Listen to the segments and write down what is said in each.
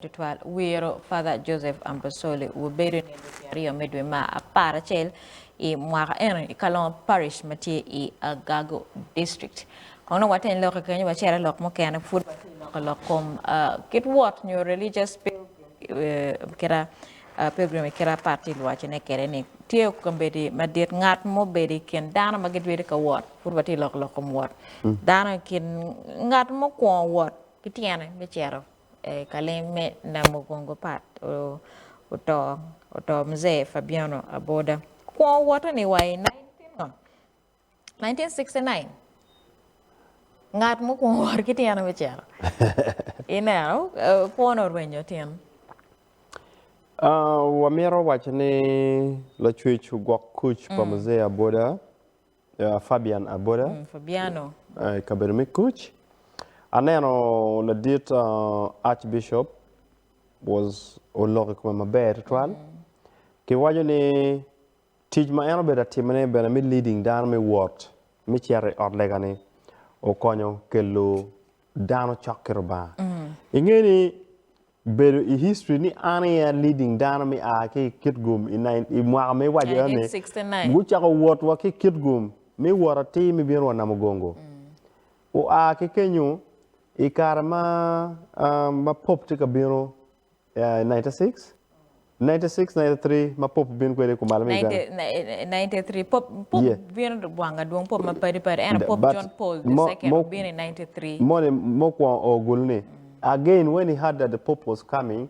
Tutwal wiro Father Joseph Ambosoli wubedo ni lweti aryo me dwe ma apar acel i mwaka eno i Kalongo Parish ma tye i Agago District. Kong dong waten lokke kenyo wacere lok mukene pud watye loko lok kom kit wot nyo religious pilgrim kira pilgrim i kira apat tye lwaci ne kede ni tye okambedi madit ngat mobedo i kin dano ma gidwedi ka wot pud watye loko lok kom wot dano i kin ngat mukwongo wot ki tyene me cito Kalim me Namugongo Pat oto, oto Mzee Fabiano Aboda. Kwo woto ni wa i 1969, ngat mukwongo wot ki tyene me cito. Ineno, eh, kwone orwenyo tin. Ah, wamito waco ni lacwec ogwok kuc pa Mzee Aboda. Fabian Aboda, i kabedo me Kuc. Aneno ladit Archbishop was oloko i kome maber tutwal. Kiwaco ni tic ma en obedo ka timone bene me leading dano me wot me cito i ot lega-ni okonyo kelo dano cok ki Lubanga. Inge ni Bedo i history ni an aye a leading dano me a ki i Kitgum i i mwaka me iwaco eno ni 1969. gucako wot wa ki i Kitgum me wot atir me bino wa Namugongo. Oa ki kenyo i kare ma ma Pope tye ka bino i 1996, 96 93 ma pope bino kwede kumalo me Uganda. 93 pope pope yeah. bino gwanga dwong pope ma padi padi eno pope But, John Paul the mo, second mo, bino i 93. Moni mo kwong o gulu ni again when he heard that the pope was coming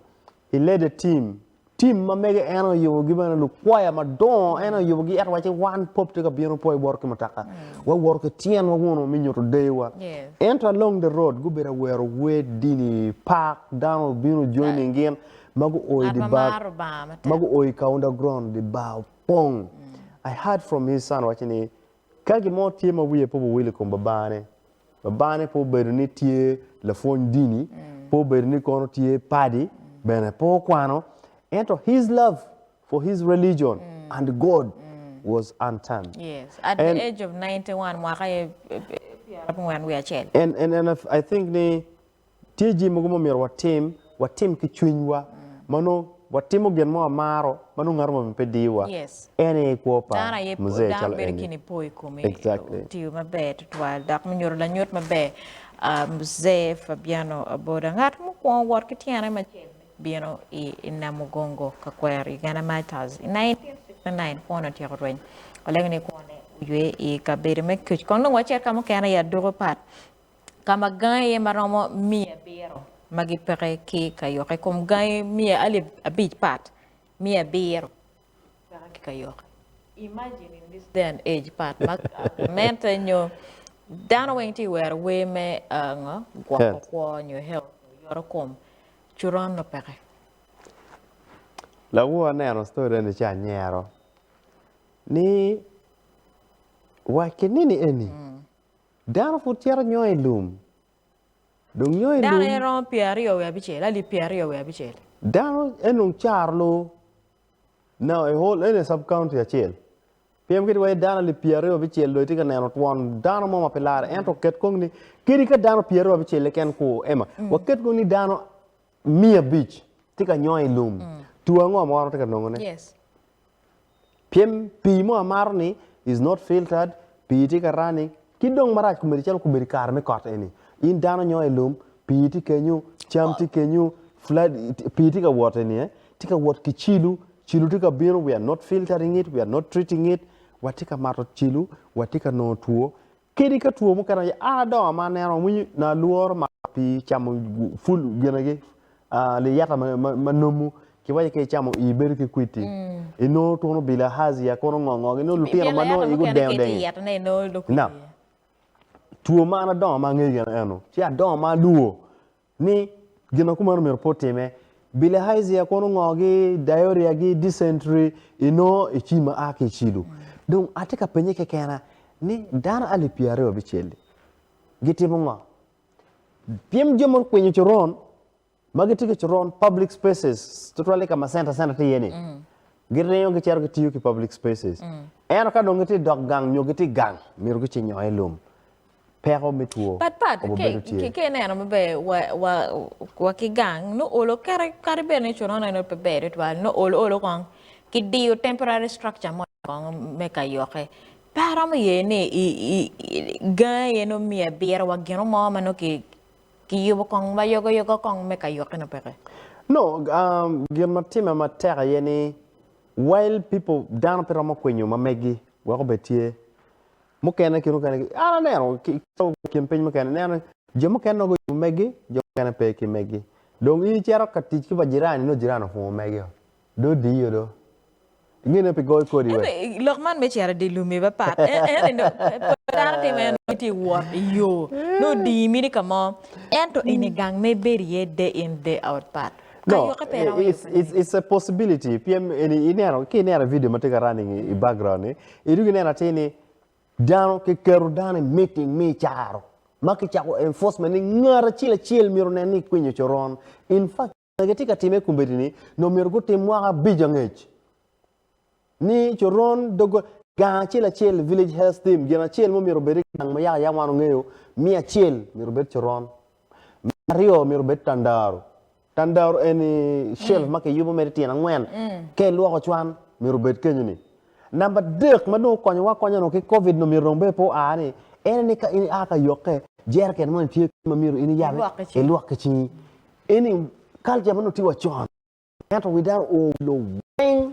he led a team team ma mege eno oyubo gi bana lukwaya madongo mm. eno oyubo gi et wache wan pope te ka bino po iworo ki mutaka mm. wa woro ki tyen wa wuno mi nyuto dewa yes. ento along the road gubedo awero wed dini park dano bino joining gin ma guo i di bar, ma guo i ka underground, di bar opong. I heard from his son waci ni, ka gin mo tye ma wiye pe owil i kom babane, babane pe obedo ni tye lapwony dini, pe obedo ni kono tye padi, bene pe okwano, ento his love for his religion and God was unturned. Yes, at the age of ninety one, mwaka aye pyera abongwen wiye acel. And, and, and I think ni, Tye jami mogo ma omyero watim, watim ki cwinywa ma nongo watimo gin mo amaro ma nongo ngat omoni pe diyowa. Yes. En aye kwo pa Dano aye Mzee dano calo bedo eni. ki nipo i kome. Exactly. Otiyo maber tutwal dok me nyuto lanyut maber. Ah, Mzee Fabiano Aboda ngat mukwongo wot ki tyene macel me bino i i Namugongo ka kwero Uganda Martyrs i 1969 kwone otyeko rweny. Walengo ni kwone oywe i kabedo me Kec kong nongo wacito ka mukene i Aduku Part. ka ma gangi aye ma romo miya abiro ma gipeke ki kayokke, i kom gangi miya alip abic pat miya abiro peke ki kayokke imagine in this day and age pat ma gamente nyo dano weng tye ka wero wer me ngo gwoko kwo nyo health nyo yoto kom coron nongo peke. Lawor aneno story eni ci anyero ni wa kinini eni. Dano pud cito nyongo i lum. Dong nyongo i lum. Dano en romo pye aryo wiye abicel, alip pye aryo wiye abicel. Dano en dong caro lo. Now a whole any sub county acel. Piem kit wai dano alip pye aryo abicel dong itye ka neno twon dano mo ma pe lare ento ket kong ni kadi ka dano pye aryo abicel keken ku Emma, waket kong ni dano miya abic tye ka nyongo i lum two ango ma wan watye ka nongone pien pii mo amaro ni is not filtered pii tye ka running ki dong marac komedi calo komedi kare me kot eni in dano inyongo i lum pii tye kenyo cam tye kenyo pii tye ka wot eni aye tye ka wot ki cilo cilo tye ka bino we are not filtering it we are not treating it watye ka mato cilo watye ka nongo two Kadi ka two mukene aye, an adongo ma aneno awinyo na alworo mato pi camo ful gine gi liyata ma nomu ki waco ki icamo i bedo ki kwiti inongo twon obilo ahazia kono ngo ngo gi inongo lutino ma nongo igi odengo dengi na two ma an adongo ma angeyo gene eno ci adongo ma alwor ni gin ma kumeno myero pe otimme. Bilihazia kono ongogi, diarrhea gi dysentery inongo ecim ma a ki i cilo. Dong atye ka penye kekena ni dano alip pyeraryo abicel-li gitimo ngo? Pien jo ma gukwinyo coron ma gitye ki coron public spaces tutwal i ka ma center center tye iye-ni giringo gicito gitiyo ki public spaces ento ka dong gitye i dog gang nyo gitye i gang myero gucing nyo i lum peko me two obedo tye. Pat pat ki ineno maber wa ki gang nongo olo kere kadi bed ni coron eno pe ber tutwal nongo olo olo kong ki diyo temporary structure mo kong me ka yokke. Pe aromo ye ni gang aye nongo miyo abiro wa gino mo ma nongo ki ki yubo kong ma yogo yogo kong me ka yokke nongo peke. No gin ma timme matek aye ni wild people dano pe romo kwinyo ma megi wek obed tye. mukene ki mukene an aneno kin piny mukene ineno jo mukene nongo gucung megi jo mukene pe ki megi dong in icito ka tic ki pa jirani nongo jirani opungo megi o do odiyo do ngene pi goyo kodi wek lok man me cito idye lum aye pat ento dong pol dano timo en nongo itye wot iyo nongo odiyi mini ka mo ento eni gang ma ibedo iye day in day out pat ka no yokke pe iromo it's, yuto it's, it's a possibility pien eni ineno ki ineno video ma tye ka running i background ni Idong inen atir ni dano ki keto dano i meeting me caro ma ki cako enforcement ni ngat acel acel myero onen ni kwinyo coron. In fact ma ki tye ka time kombedi ni no myero gutim mwaka abic angec ni coron doggol gang acel acel village health team gin acel mo myero obedi gang ma yaka yam wan ongeyo miya acel myero obed coron miya aryo myero obed tandaro Tandaro eni shelf ma kiyubo mere tyen angwen. Ka ilwoko cwan, myero obed kenyo-ni. Namba adek ma dong okonyowa akonya onongo ki Covid onongo myero dong obed pe oa ni, en ni ka in ia ka yokke, jereken moni tye kany ma myero in iyab ilwok ki cingi. Eni kalca ma nongo tye wa con ento wi dano oo wi lobo weng.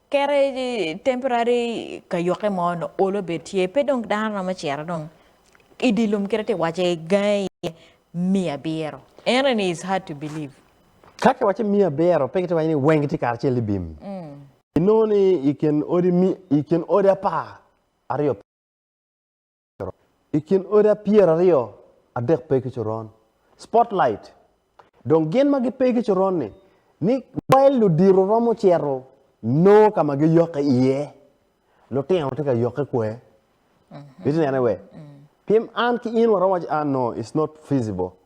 Kere temporary kayoke mo no olo bed tye pe dong dano romo cito dong i di lum kite ti wace gange iye miya abiro. Eno ni is hard to believe. Ka ki wace miya abiro pe ki ti wace ni weng gitye karacel i bim. I nongo ni i kin odi i kin odi apar aryo pe. coron. I kin odi apyeraryo adek pe ki coron, spotlight, dong gin ma gipe ki coron-ni, ni wel ludito romo cito noo ka ma giyokke iye, lutino tye ka yokke kwe. Itye nene we? Pien an ki in waromo waco, ah no, it's not feasible.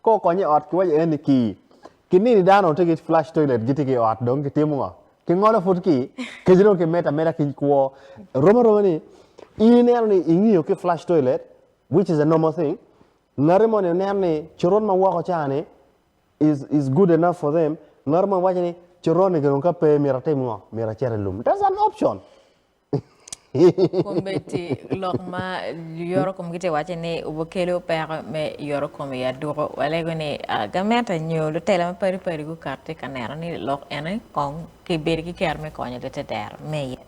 Kor kony i ot kiwaco aye ni ki kinini dano onongo tye ki flash toilet gitye ki i ot dong kitimo ngo? Kingolo pud ki kec dong kimedo ameda ki kwo. Rom aroma ni ineno ni ingiyo ki flash toilet which is a normal thing ngati moni oneno ni coron ma woko ca ni is is good enough for them ngati moni waco ni coron-ni gin dong ka pe myero atim ngo? Myero acit i lum. That's an option. Kombeddi lok ma yoro kom gitye wacce ni obukelo peko me yoro kom i aduko. Walego ni ah, gamente nyo lutela ma padi padi gukat tye ka neno ni lok ene kong kibedi ki kero me konyo lite dero me yet.